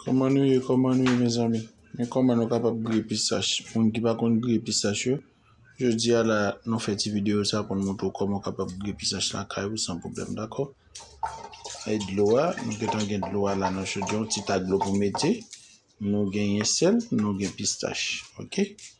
Koman nou ye koman nou ye mezanmi men koman nou kapab griye pistach moun ki pa konn griye pistach yo jodi a la nou fè ti video sa pou nou montre ou koman kapab griye pistach la kay ou san problem dako ay dlo a nou gentan gen dlo a la nan chodyon ti ta dlo pou mete nou genyen sèl nou gen pistach ok.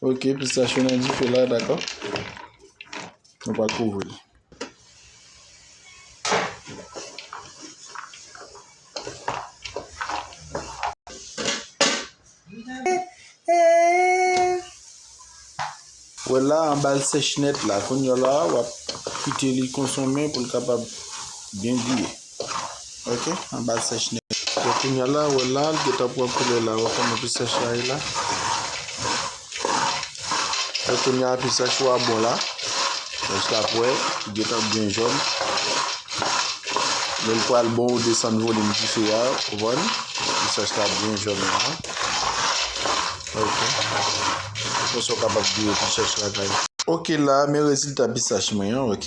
Ok pistach yo nan dife la dakò nou pa kouvri l. Wè la anba l sèch nèt la kounya la wap kite li konsonmen pou l kapab byen gouye. ok anbal sèch nèt. Bon kounya la wè la li gentan pran koulè la wè kòman pi sèch la ye la wè kounya pi sèch wa bon la èske ap wè li gentan byen jòn lèl pral bon ou desann volim dife ya ou konprann pi sèch la byen jòn la ok konsa ou kapab gouye pi sèch la kay ok la men rezilta pi sèch mwen an ok.